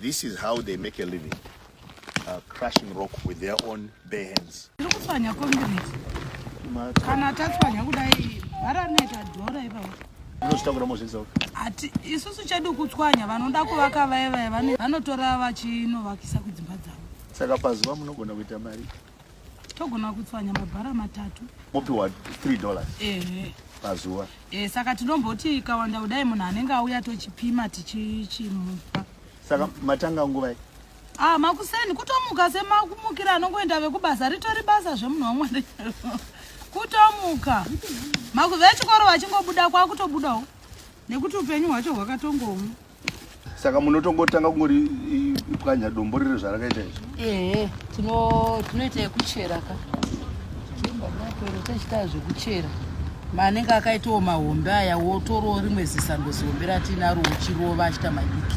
This is how they make a living. Uh, crushing rock with their own bare hands. Kana tatswanya kudai varaneta dhora ipapo unozvitakura mozviisa ati isusu chedu kutswanya vanoda kuvaka vaye vaye vanotora vachinovakisa kudzimba dzavo saka pazuva munogona kuita mari togona kutswanya mabhara matatu mopiwa 3 dollars ehe pazuva e, saka tinomboti ikawanda kudai munhu anenge auya tochipima tichichimupa saka matanga nguvai ah makuseni kutomuka semakumukira anongoenda vekubasa ritori basa zvemunhu wamwari kutomuka makuve chikoro vachingobuda kwakutobudawo nekuti upenyu hwacho hwakatongomu saka munotongotanga kungori pwanya dombo riri zvarakaita izvi ehe tinoita yekuchera ka tochitaa zvekuchera maanenge akaitawo mahombe aya wotorawo rimwe zisando zihombe ratinaro uchirova achita madiki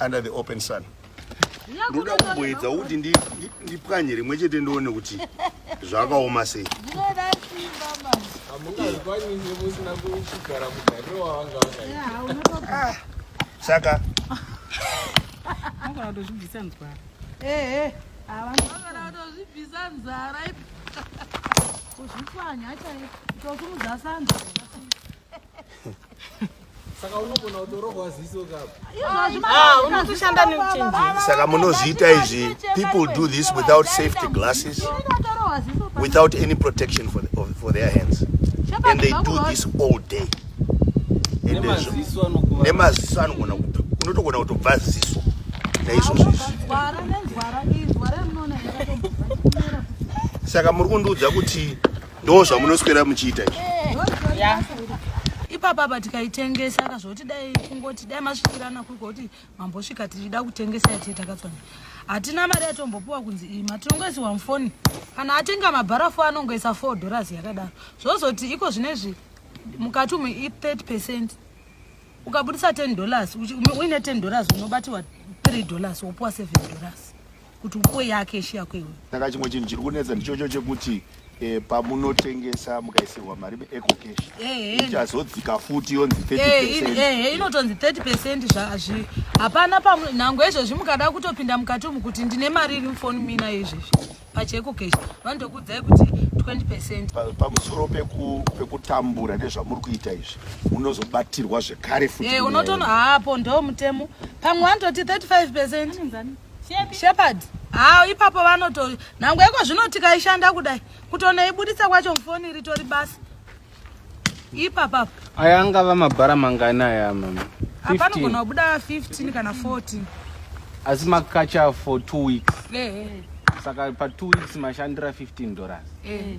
under the open sun ndoda kumboedza kuti ndipwanye rimwe chete ndione kuti zvakaoma sei ah, saka kuzvipwanya chaiozvimudzasanza Saka unogona kutorohwa ziso kapo. Ah, unotoshanda nekuchinjira. Saka munozviita izvi. People do this without safety glasses. Without any protection for, the, for their hands. And they do this all day. Nemaziso anogona kupi. Unotogona kutobva ziso. Naizvozvo izvi. Saka muri kundiudza kuti Ndo zvamunoswera muchiita izvi. Yeah. Ipapa apa tikaitengesa ka zvoti dai kungoti dai masvikirana kuri kuti mambosvika tichida kutengesa yati takatswana. Hatina mari yatombopuwa kunzi iyi matinongoisiwa mufoni. Kana atenga mabharafu anongoisa 4 dollars yakadaro. Zvozoti iko zvinezvi mukati umu i 30% ukabudisa 10 dollars uine 10 dollars unobatirwa 3 dollars wopuwa 7 dollars. kuti upo yake ishi yako iwe saka chimwe chinhu chiri kunetsa ndichocho chekuti eh, pamunotengesa mukaisirwa mari meeco cash Ehe. ichazodzika futi yonzi 30 Eh, in- percent eh, inotonzi 30 percent zvazvi hapana pamwe nhango izvozvi mukada kutopinda mukati umu kuti ndine mari iri mufoni mina izvezvi pacheko cash vanotokuudzai kuti 20 percent Pa- pamusoro peku- pekutambura nezvamuri kuita izvi munozobatirwa zvekare futi Eh, unotono hapo ndo mutemo pamwe vanototi 35 percent Anonzi ani? Shepherd. Haa ipapo vanoto nhangu yako zvino tikaishanda kudai kutonoibuditsa kwacho mufoni ritori basa. Ipapapo. Aya angava mabhara mangani aya mama? Hapana kugona kubuda 15 kana 14. Asi makacha for 2 weeks. Eh. eh. Saka pa 2 weeks mashandira 15 dollars. Eh.